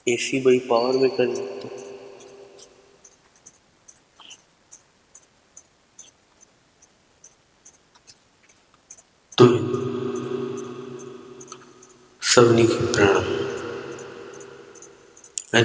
اي C ٻئي power ۾ ڪري ورتو. توهين سڀني کي پرڻام ۽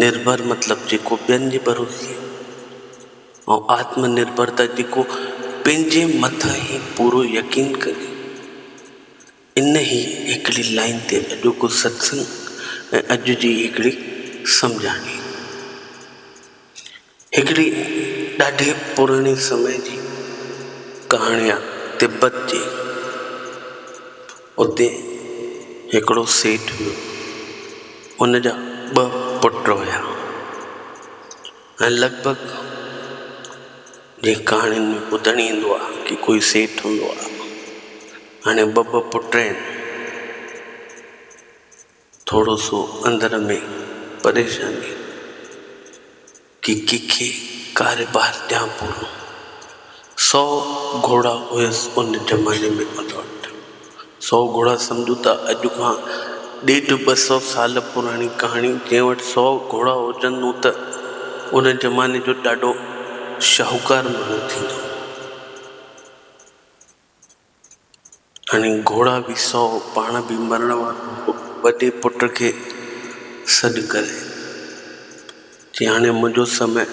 نرڀر مطلب جيڪو ٻين جي ڀروسي ۽ آتم نرڀرتا جيڪو پنهنجي مٿان ئي پورو يقين ڪجي. انهي هڪڙي لائين تي اڄوڪو ستسنگ ۽ اڄ جي هڪڙي سمجهاڻي. هڪڙي ڏاڍي پراڻي سمي جي ڪهاڻي آ تبت جي اتي هڪڙو سيٺ هيو ان جا ٻه پٽ هيا ۽ لڳ ڀڳ جي ڪهاڻين ۾ ٻڌڻ ايندو آ ڪي ڪوئي سيٺ هوندو آ هاڻي ٻه ٻه پٽ آهن. ٿورو سو اندر ۾ پريشاني ڪي ڪي کي ڪاري بهر ڏيان پورو سؤ گهوڙا هئس ان زماني ۾ ان وٽ سؤ گهوڙا سمجهو ته اڄ کان ڏيڍ ٻه سؤ سال پراڻي ڪهاڻي جنهن وٽ سؤ گهوڙا هجن نون ته ان زماني جو ڏاڍو شاهوڪار ماڻهو ٿيندو. هاڻي گهوڙا به سو، پاڻ به مرڻ وارو هو، وڏي پٽ کي سڏ ڪري چيائين، هاڻي منهنجو سمي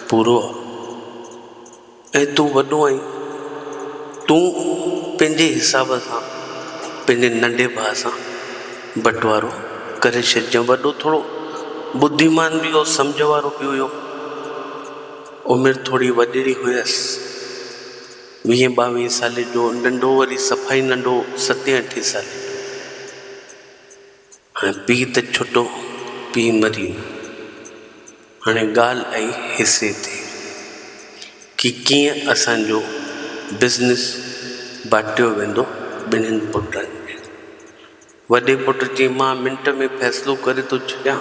پورو آ ۽ تون وڏو آهين، تون پنهنجي حساب سان پنهنجي ننڍي ڀاء سان بٽوارو ڪري ڇڏجانء. وڏو ٿورو ٻڌيمان به هو، سمجهه وارو به هيو، عمر ٿوري وڏڙي هيس. ويهين ٻاويهين سالي جو ننڍو وري صفائي ننڍو ستين اٺين سالي جو هاڻي پيء ته ڇٽو پيء مري ويو هاڻي ڳالهه آئي حصي تي ڪي ڪيئن اسان جو بزنس بانٽيو ويندو ٻنهين پٽن ۾ وڏي پٽ چيائين مان منٽ ۾ فيصلو ڪري ٿو ڇڏيان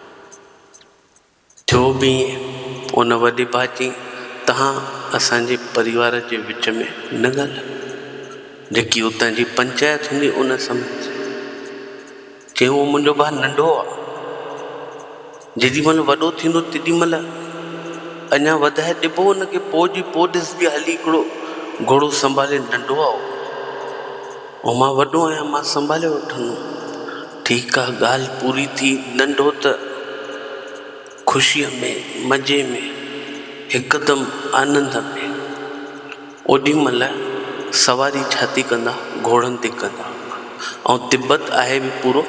ٿيو به ائين، ان وڏي ڀاء چيائين، توهان اسان جي پريوار جي وچ ۾ نه ڳالهايو. جيڪي اتان جي پنچائت هوندي ان سمجهه. چيائين، اهو منهنجو ڀاء ننڍو آ. جيڏي مهل وڏو ٿيندو تيڏي مهل اڃا وڌائي ڏبو ان کي پوء جي پوء ڏسبي هلي هڪڙو گهوڙو سنڀالي ننڍو آ اهو. اهو مان وڏو آهيان مان سنڀالي وٺندم. ٺيڪ آ ڳالهه پوري ٿي. ننڍو ته خوشيء ۾ مزي ۾ هڪدم آنند ۾. اوڏي مهل سواري ڇاٿي ڪندا گهوڙن تي ڪندا. ۽ تبت آهي به پورو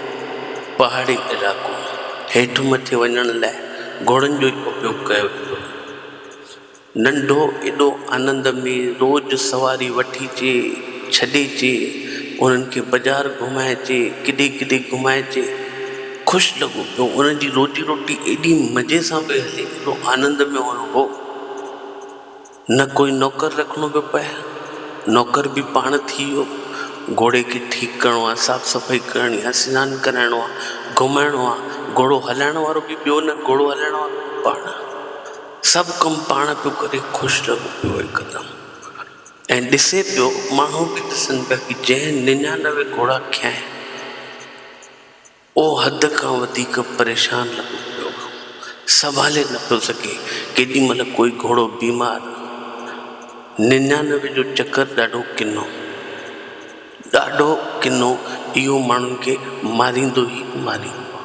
پهاڙي علائقو. هيٺ مٿي وڃڻ لاء گهوڙن جو ئي اپيوگ ڪيو ويندو هيو. ننڍو ايڏو آنند ۾ روز سواري وٺيجي، ڇڏيجي، انهن کي بازار گهمائجي، ڪيڏي ڪيڏي گهمائجي. خوش لڳو پيو. انهن جي روزي روٽي ايڏي مزي سان پئي هلي، ايڏو آنند ۾ هيو هو. نه ڪوئي نوڪر رکڻو پيو پئي. نوڪر به پاڻ ٿي ويو. گهوڙي کي ٺيڪ ڪرڻو آهي، صاف صفائي ڪرڻي آهي، سنان ڪرائڻو آهي، گهمائڻو آهي. گهوڙو هلائڻ وارو به ٻيو نه، گهوڙو هلائڻ وارو به پاڻ. سڀ ڪم پاڻ پيو ڪري خوش لڳو پيو هڪدم ۽ ڏسي پيو ماڻهو به ڏسن پيا ڪي جنهن ننيانوي گهوڙا کنيائين اهو حد کان وڌيڪ پريشان لڳو پيو هو سنڀالي نه پيو سگهي ڪيڏي مهل ڪوئي گهوڙو بيمار ننيانوي جو چڪر ڏاڍو ڪنو ڏاڍو ڪنو اهو ماڻهن کي ماريندو ئي ماريندو هو.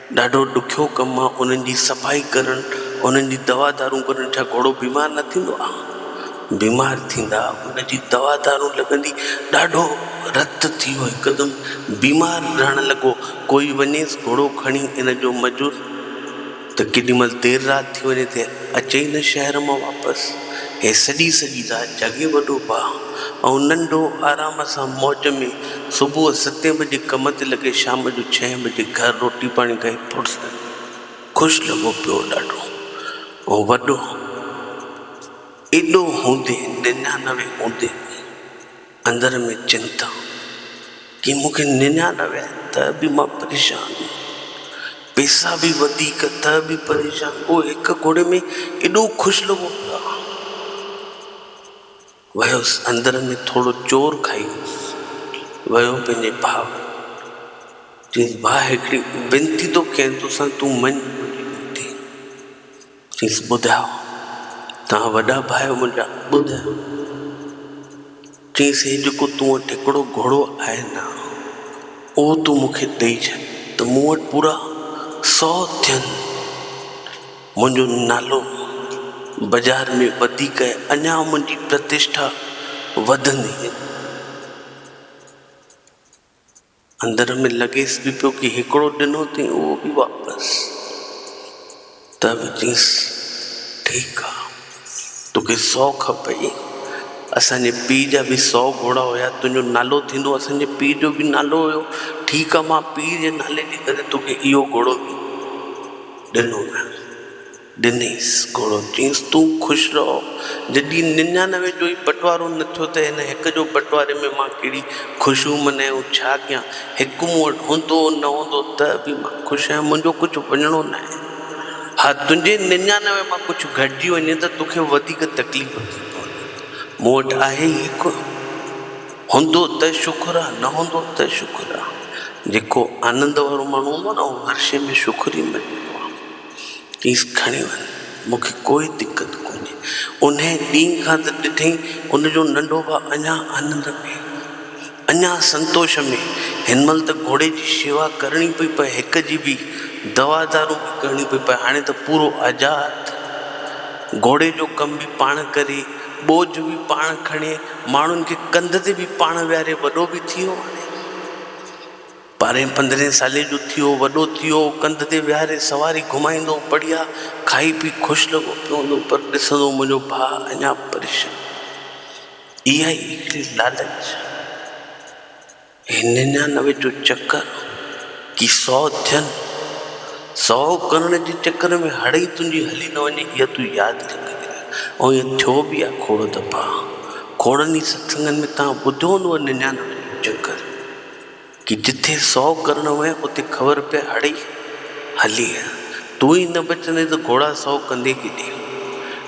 ڏاڍو ڏکيو ڪم آ انهن جي صفائي ڪرڻ انهن جي دوا دارون ڪرڻ ڇا گهوڙو بيمار نه ٿيندو آ بيمار ٿيندا ان جي دوا دارون لڳندي ڏاڍو رت ٿي ويو هڪدم بيمار رهڻ لڳو ڪوئي وڃيس گهوڙو کڻي ان جو مزور ته ڪيڏي مهل دير رات ٿي وڃي ته اچي ئي نه شهر مان واپس هي سڄي سڄي رات جاڳي وڏو ڀاء ۽ ننڍو آرام سان موج ۾ صبح ستين بجي ڪم تي لڳي شام جو ڇهين بجي گهر روٽي پاڻي کائي پڙسي خوش لڳو پيو هو ڏاڍو ۽ وڏو ايڏو هوندي ننيانوي هوندي به اندر ۾ چنتا ڪي مون کي ننيانوي آهي ته به مان پريشان پيسا به وڌيڪ ته به پريشان اهو هڪ گهوڙي ۾ ايڏو خوش لڳو پيو ويس اندر ۾ ٿورو چور کائي ويو پنهنجي ڀاء کي چيس ڀاء هڪڙي وينتي ٿو ڪيان توسان تون مڃ منهنجي وينتي چيس ٻڌاء توهان وڏا ڀاء آهيو منهنجا ٻڌاء چيس هي جيڪو تون وٽ هڪڙو گهوڙو آهي نه اهو تون مون کي ڏئي ڇڏ ته مون وٽ پورا سؤ ٿين منهنجو نالو بازار ۾ وڌيڪ ۽ اڃا منهنجي پرتشٺا وڌندي ويندي. اندر ۾ لڳيس به پيو ڪي هڪڙو ڏنو ٿئي اهو به واپس. ته به چيس ٺيڪ آ توکي سؤ کپئي اسان جي پيء جا به سؤ گهوڙا هيا تنهنجو نالو ٿيندو اسان جي پيء جو به نالو هيو ٺيڪ آ مان پيء جي نالي جي ڪري توکي اهو گهوڙو به ڏنو ته ڏنيس گهوڙو، چيس تون خوش رهو، جڏهن ننيانوي جو ئي بٽوارو نه ٿيو ته هن هڪ جو بٽواري ۾ مان ڪهڙي خوشيون منايون، ڇا ڪيان، هڪ مون وٽ هوندو نه هوندو ته به مان خوش آهيان، منهنجو ڪجهه وڃڻو ناهي، ها تنهنجي ننيانوي مان ڪجهه گهٽجي وڃي ته توکي وڌيڪ تڪليف ٿي پوندي، مون وٽ آهي ئي ڪونه. هوندو ته شڪر آ، نه هوندو ته شڪر آ. جيڪو آنند وارو ماڻهو هوندو آ نه، اهو هر شيء ۾ شڪر ئي مڃيندو آ. چيس کڻي وڃ، مون کي ڪوئي دقت ڪونهي. انهيء ڏينهن کان ته ڏٺئي، ان جو ننڍو ڀاء اڃا آنند ۾، اڃا سنتوش ۾. هن مهل ته گهوڙي جي شيوا ڪرڻي پئي پئي، هڪ جي به دوا دارو به ڪرڻي پئي پئي. هاڻي ته پورو آزاد، گهوڙي جو ڪم به پاڻ ڪري، ٻوجھ به پاڻ کڻي، ماڻهن کي ڪنڌ تي به پاڻ ويهاري وڏو به ٿيو هاڻي ٻارهين پندرهين سالي جو ٿيو وڏو ٿيو ڪنڌ تي ويهاري سواري گهمائيندو بڙهيا کائي پي خوش لڳو پيو هوندو پر ڏسندو منهنجو ڀاء اڃا پريشان اها ئي هڪڙي لالچ. هي ننيانوي جو چڪر ڪي سئو ٿين، سئو ڪرڻ جي چڪر ۾ هڙئي تنهنجي هلي نه وڃي اها تون ياد رک. ۽ ائين ٿيو به آهي کوڙ دفعا. کوڙن ئي ستسنگن ۾ توهان ٻڌو هوندو ننيانوي جو چڪر ڪي جتي سئو ڪرڻ هئين اتي خبر پئي هڙئي هلي تون ئي نه بچندين ته گهوڙا سؤ ڪندين ڪيڏي؟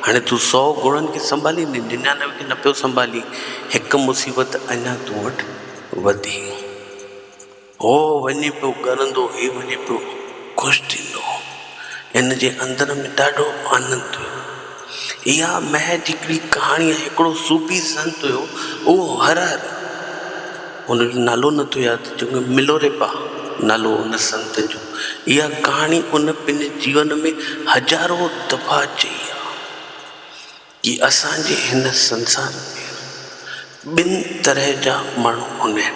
هاڻي تون سؤ گهوڙن کي سنڀاليندين، ننيانوي کي نه پيو سنڀالين، هڪ مصيبت اڃا تون وٽ وڌي. هو وڃي پيو ڳرندو، هي وڃي پيو خوش ٿيندو. هن جي اندر ۾ ڏاڍو آنند هيو. اها محض هڪڙي ڪهاڻي آهي. هڪڙو صوفي سنت هيو، اهو هر هر، هن جو نالو نه ٿو ياد اچي، ملوريپا نالو هو ان سنت جو. اها ڪهاڻي ان پنهنجي جيون ۾ هزارون دفعا چئي آهي ته اسان جي هن سنسار ۾ ٻن طرح جا ماڻهو هوندا آهن.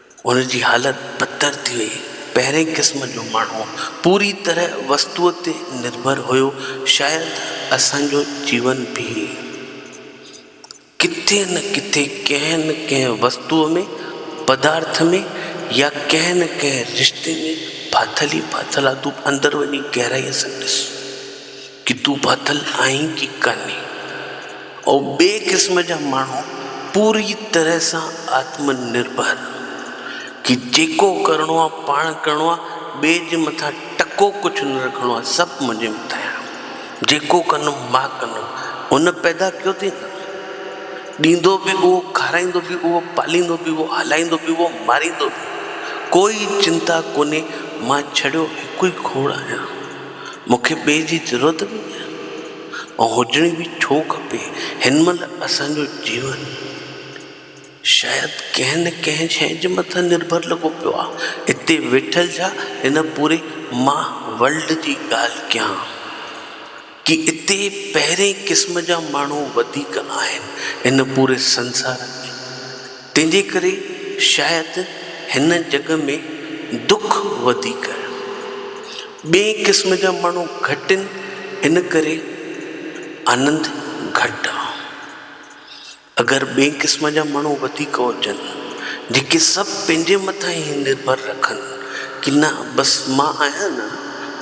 هن جي حالت بدتر ٿي وئي. پهرئين قسم جو ماڻهو پوري طرح وستوء تي نرڀر هيو، شايد اسان جو جيون به ڪٿي نه ڪٿي ڪنهن نه ڪنهن وستوء ۾، پدارٿ ۾، يا ڪنهن نه ڪنهن رشتي ۾ ڦاٿل ئي ڦاٿل آ. تون اندر وڃي گهرائيء سان ڏس. ڪي تون ڦاٿل آهين ڪي ڪاني. او ٻئي قسم جا ماڻهو پوريء طرح سان آتم نرڀر، ڪي جيڪو ڪرڻو آ پاڻ ڪرڻو آ، ٻئي جي مٿان ٽڪو ڪجهه نه رکڻو آ، سڀ منهنجي مٿان آ، جيڪو ڪندم مان ڪندم، هن پيدا ڪيو ٿئي ته ڏيندو به اهو، کارائيندو به اهو، پاليندو به اهو، هلائيندو به اهو، ماريندو به اهو، ڪوئي چنتا ڪونهي، مان ڇڙيو هڪ ئي کوڙ آهيان. مون کي ٻئي جي ضرورت به نه ۽ هجڻي به ڇو کپي. هن مهل اسان جو جيون شايد ڪنهن نه ڪنهن شيء جي مٿان نرڀر لڳو پيو آهي. اتي ويٺل ڇا هن پوري ماهه ورلڊ جي ڳالهه ڪيان ڪي اتي پهرين قسم جا ماڻهو وڌيڪ آهن ان پوري سنسار ۾. تنهنجي ڪري شايد هن جڳ ۾ دک وڌيڪ آهن. ٻئي قسم جا ماڻهو گهٽ آهن ان ڪري آنند گهٽ آ. اگر ٻئي قسم جا ماڻهو وڌيڪ هجن جيڪي سڀ پنهنجي مٿان ئي نرڀر رکن ڪي نه بس مان آهيان نه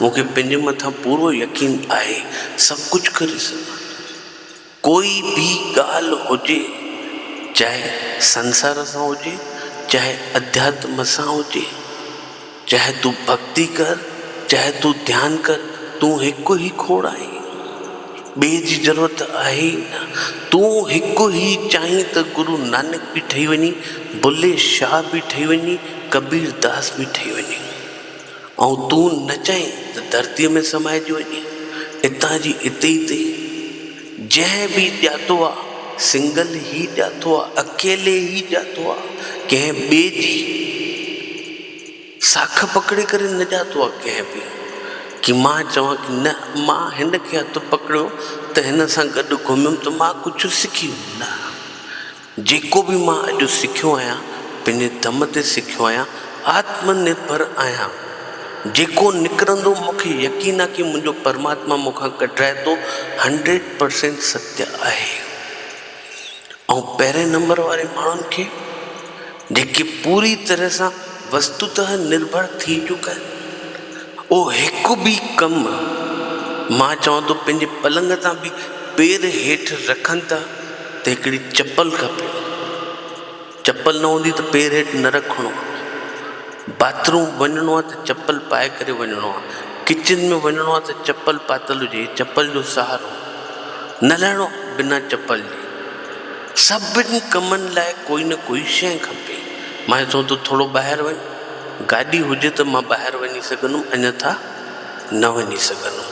مون کي پنهنجي مٿان پورو يقين آهي سڀ ڪجهه ڪري سگهان ٿو. ڪوئي به ڳالهه هجي، چاهي سنسار سان هجي، چاهي اڌياتم سان هجي، چاهي تون ڀڳتي ڪر، چاهي تون ڌيان ڪر، تون هڪ ئي کوڙ آهين. ٻئي جي ضرورت آهي ئي نه. تون هڪ ئي چاهين ته گرو نانڪ به ٺهي وڃين، بلي شاهه به ٺهي وڃين، ڪبير داس به ٺهي وڃين. ۽ تون نه چئين ته ڌرتيء ۾ سمائجي وڃي، اتان جي اتي ئي اٿئي. جنهن به ڄاتو آ، سنگل ئي ڄاتو آ، اڪيلي ئي ڄاتو آ، ڪنهن ٻئي جي ساک پڪڙي ڪري نه ڄاتو آ ڪنهن به. ڪي مان چوان ڪي نه، مان هن کي هٿ پڪڙيو ته هن سان گڏ گهميم ته مان ڪجهه سکيم نه. جيڪو به مان اڄ سکيو آهيان، پنهنجي دم تي سکيو آهيان، آتم نرڀر آهيان. جيڪو نڪرندو مون کي يقين آهي ڪي منهنجو پرماتما مون کان ڪڍرائي ٿو هنڊريڊ پرسينٽ ستيا آهي. آئون پهرين نمبر واري ماڻهن کي. جيڪي پوري طرح سان وستوته نرڀر ٿي چڪا آهن. اهو هڪ به ڪم مان چوان ٿو پنهنجي پلنگ تان به پير هيٺ رکن ٿا ته هڪڙي چپل کپي. چپل نه هوندي ته پير هيٺ نه رکڻو آهي. باٿ روم وڃڻو آهي ته چپل پائي ڪري وڃڻو آهي. ڪچن ۾ وڃڻو آهي ته چپل پاتل هجي چپل جو سهارو. نه لهڻو آهي بنا چپل جي. سڀني ڪمن لاء ڪوئي نه ڪوئي شيء کپي. مان چيو ته ٿورو ٻاهر وڃ. گاڏي هجي ته مان ٻاهر وڃي سگهندم انيٿا نه وڃي سگهندم.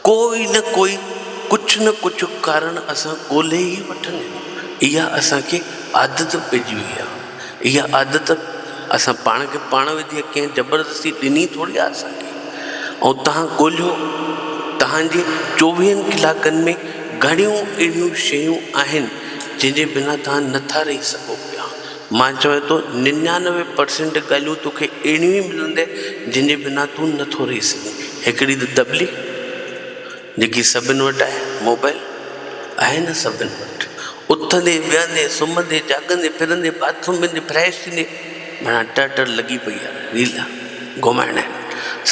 ڪوئي نه ڪوئي ڪجهه نه ڪجهه ڪارڻ اسان ڳولهي ئي وٺندا آهيون. اها اسان کي عادت پئجي وئي آهي. اها عادت اسان پاڻ کي پاڻ وڌي آهي ڪنهن زبردستي ڏني ٿوري آهي اسان کي ۽ توهان ڳولهيو توهان جي چوويهن ڪلاڪن ۾ گهڻيون اهڙيون شيون آهن جنهن جي بنا توهان نٿا رهي سگهو پيا مان چوان ٿو ننيانوي پرسنٽ ڳالهيون توکي اهڙيون ئي ملندي جنهن جي بنا تون نٿو رهي سگهين هڪڙي ته تبليغ. جيڪي سڀن وٽ آهي موبائل آهي نه سڀن وٽ اٿندي ويهندي سمهندي جاڳندي ڦرندي باٿروم ويندي فريش ٿيندي مانا ٽر ٽر لڳي پئي آهي ريل گهمائڻ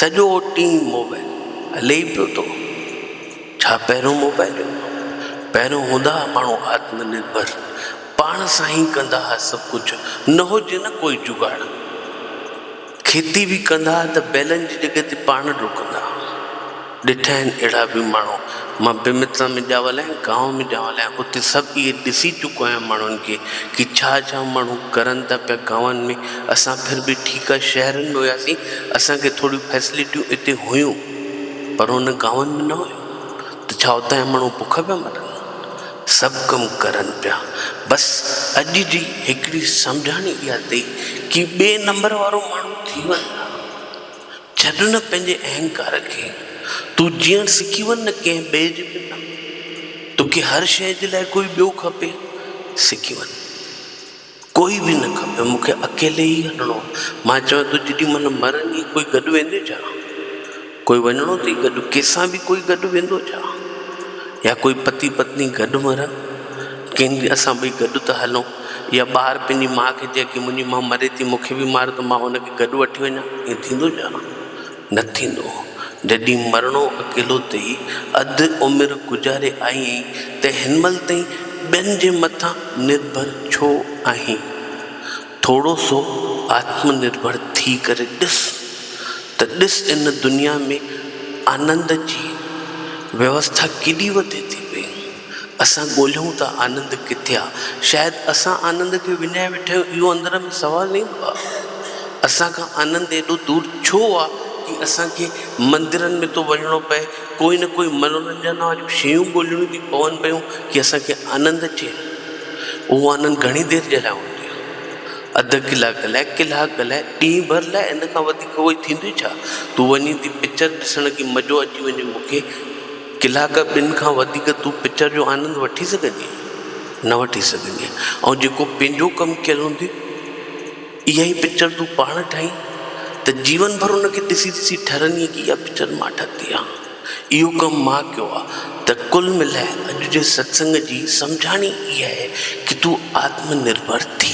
سڄو ٽيم موبائل هلي ئي پيو ٿو ڇا پهريون موبائل هو پهريون هوندا هئا ماڻهو آتم نرڀر پاڻ سان ئي ڪندا هئا سڀ ڪجهه نه هجي نه ڪوئي جگاڙ کيتي به ڪندا ته بيلن جي جڳهه تي پاڻ ڊوڪندا. ڏٺا آهن اهڙا به ماڻهو. مان بيمترا ۾ ڄاول آهيان، گانو ۾ ڄاول آهيان، اتي سڀ اهي ڏسي چڪو آهيان ماڻهن کي ڪي ڇا ڇا ماڻهو ڪرن ٿا پيا گانون ۾. اسان ڦر به ٺيڪا شهرن ۾ هياسين، اسان کي ٿوريون فيسليٽيون اتي هيون پر ان گانون ۾ نه هيون ته ڇا اتان جا ماڻهو بک پيا مرن. سڀ ڪم ڪرن پيا بس اڄ جي هڪڙي سمجهاڻي اها اٿئي ڪي ٻي نمبر وارو ماڻهو ٿي وڃ نه ڇڏ نه پنهنجي اهنڪار کي تون جيئڻ سکي وڃ نه ڪنهن ٻئي جي پن ۾ توکي هر شيء جي لاء ڪوئي ٻيو کپي سکي وڃ. ڪوئي به نه کپيو، مون کي اڪيلي ئي هلڻو آ. مان چيو تون جيڏي مهل مرندين ڪوئي گڏ ويندين ڇا؟ ڪوئي وڃڻو اٿئي گڏ؟ ڪنهن سان به ڪوئي گڏ ويندو ڇا؟ يا ڪوئي پتي پتني گڏ مرن؟ ڪنهن ڏينهن اسان ٻئي گڏ ته هلون. يا ٻار پنهنجي ماء کي چئي ڪي منهنجي ماء مري ٿي مون کي به مار ته مان ان کي گڏ وٺي وڃان، ائين ٿيندو ڇا؟ نه ٿيندو. جڏهن مرڻو اڪيلو ٿي اڌ عمر گذاري آئين ته هن مهل تائين ٻين جي مٿان نرڀر ڇو آهين؟ ٿورو سو آتم نرڀر ٿي ڪري ڏس ته ڏس ان دنيا ۾ آنند جي ويوسٿا ڪيڏي وڌي ٿي پئي. اسان ڳولهيون ٿا آنند ڪٿي آ؟ شايد اسان آنند کي وڃائي ويٺا آهيون اهو اندر ۾ سوال نه ايندو آهي اسان کان آنند ايڏو دور ڇو آ جي اسان کي مندرن ۾ ٿو وڃڻو پئي ڪوئي نه ڪوئي منورنجن واريون شيون ڳولهڻيون ٿي پون پيون جي اسان کي آنند اچي اهو آنند گهڻي دير جي لاء هوندو آ اڌ ڪلاڪ لاء ڪلاڪ لاء ڏينهن ڀر لاء ان کان وڌيڪ ڪوئي ٿيندو ئي ڇا تون وڃين ٿي پڪچر ڏسڻ ڪي مزو اچي وڃي مون کي ڪلاڪ ٻن کان وڌيڪ تون پڪچر جو آنند وٺي سگهندينء؟ نه وٺي سگهندينء. ۽ جيڪو پنهنجو ڪم ڪيل هوندي، اها ئي پڪچر تون پاڻ ٺاهين ته جيون ڀر ان کي ڏسي ڏسي ٺرندينء ڪي اها پڪچر مان ٺتي آ، اهو ڪم مان ڪيو آ ته ڪل ملائي اڄ جي ستسنگ جي سمجهاڻي اها آهي ڪي تون آتم نرڀر ٿي.